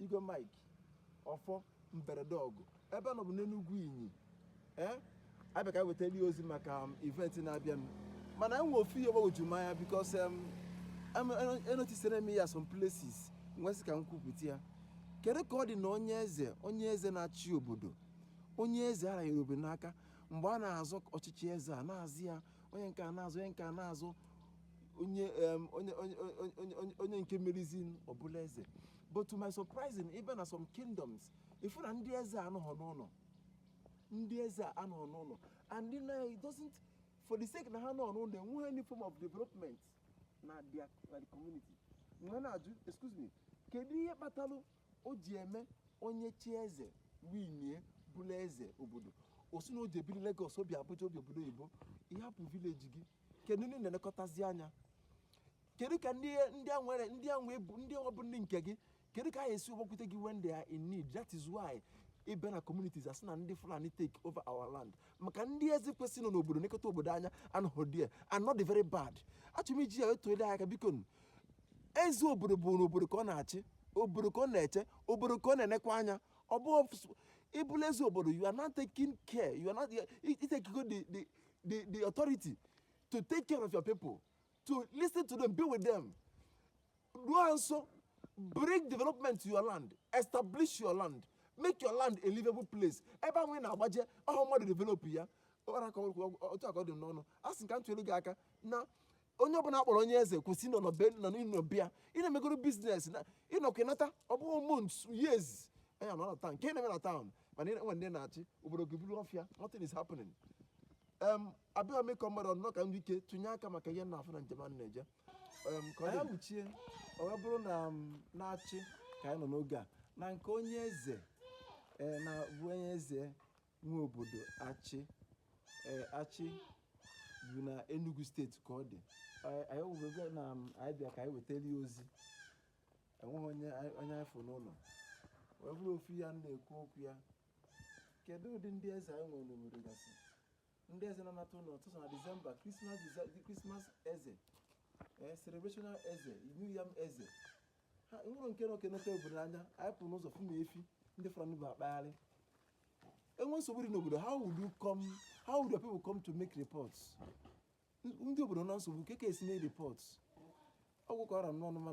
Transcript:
Igwe Mike Ọfọ Mberede Ọgụ ebe a nọ bụ n'Enugwu Inyi ee abịa ka wetara ozi maka um, event na-abịanụ mana enwe ofu ihe gbagwoju m anya because um, em- eno- enotisere m ya some places wee sị ka m kwupụta ya kedu ka ọ dị na onye eze onye eze na-achị obodo onye eze a ranyere obodo n'aka mgbe a na-azọ ọchịchị eze a na-azọ ya onye nke a na-azọ onye nke a na-azọ onye em, onye onye onye- onye onye onye nke merizi ọ bụla eze but to my surprising ị bịa na some kingdoms ị fụ na ndị eze anọghọ n'ụlọ ndị eze a anọghọ n'ụlọ and ndị na it doesn't for the sake na ha anọghọ n'ụlọ enweghị any form of development na their na the community m wee na-ajụ excuse me kedu ihe kpatalụ o ji eme onye chie eze winie bụla eze obodo ọ sị na ọ je ebiri Lagos o bi Abuja o bi obodo oyibo ị hapụ village gị kedu ndị ị na-elekọtazi anya kedu ka ndị ndị a nwere ndị a nwee bụ ndị ọ bụ ndị nke gị kedu ka ha esi gbakwute gị when they are in need that is why ị bịa na communities a sị na ndị Fulani take over our land maka ndị eze kwesịrị ịnọ n'obodo nekọta obodo anya anọghị there and ọ dị very bad achọrọ m iji ya etuole aka biko eze obodo bụ na obodo ka ọ na-achị obodo ka ọ na-eche obodo ka ọ na-enekwa anya ọ bụ ị bụla eze obodo you are not taking care you are not i takego the the the, the authority to take care of your people, to listen to them, be with them. Do also bring development to your land, establish your land, make your land a livable place. Ebe ahụ ị na-agbaje ọ bụ mmadụ develop ya ọra ka ọ- ọ- otu a ka ọ dị m n'ọnụ a sị ka m tụnyere gị aka na onye ọbụla a kpọrọ onye eze kwesị ịnọ na be nọ n'ịnọ be ya ị na-emegoro business na ịnọkwa ịnata ọ bụghị months years anya nọ na town nke na-eme na town mana ị na-enwe ndị ị na-achị obodo gị bụrụ ọfịa nothing is happening em abịa mee ka ọ mmadụ ọnọ ka ndị ike tụnye aka maka ihe m na-afụ na njem a na-eje em ka ọ dị wuchie ọ wee bụrụ na n'Achi ka anyị nọ n'oge a na nke onye eze ee na bụ onye eze nwe obodo Achi eh, Achi bụ na Enugu State ka ọ dị eh, anyị wụbebe na um, anyị bịa ka anyị wetara ya ozi enweghị onye anyị fụ n'ụlọ wee bụrụ ofu ihe a na-ekwu okwu ya kedu ụdị ndị eze anyị nwere n'obodo gasị ndị eze na-anata ụlọ sọsọ na December Christmas Christmas eze eh, celebrational eze New Yam eze ha enwerọ nke na-enekọta obodo anya anyị pụrụ n'ụzọ fụ na efi ndị Fulani bu akpagharị enwe nsogbu dị n'obodo how would you come how would your people come to make reports N- ndị obodo na nsogbu kee ka esi mee reports ọ gwụ ka ọ ra m n'ọnụ mana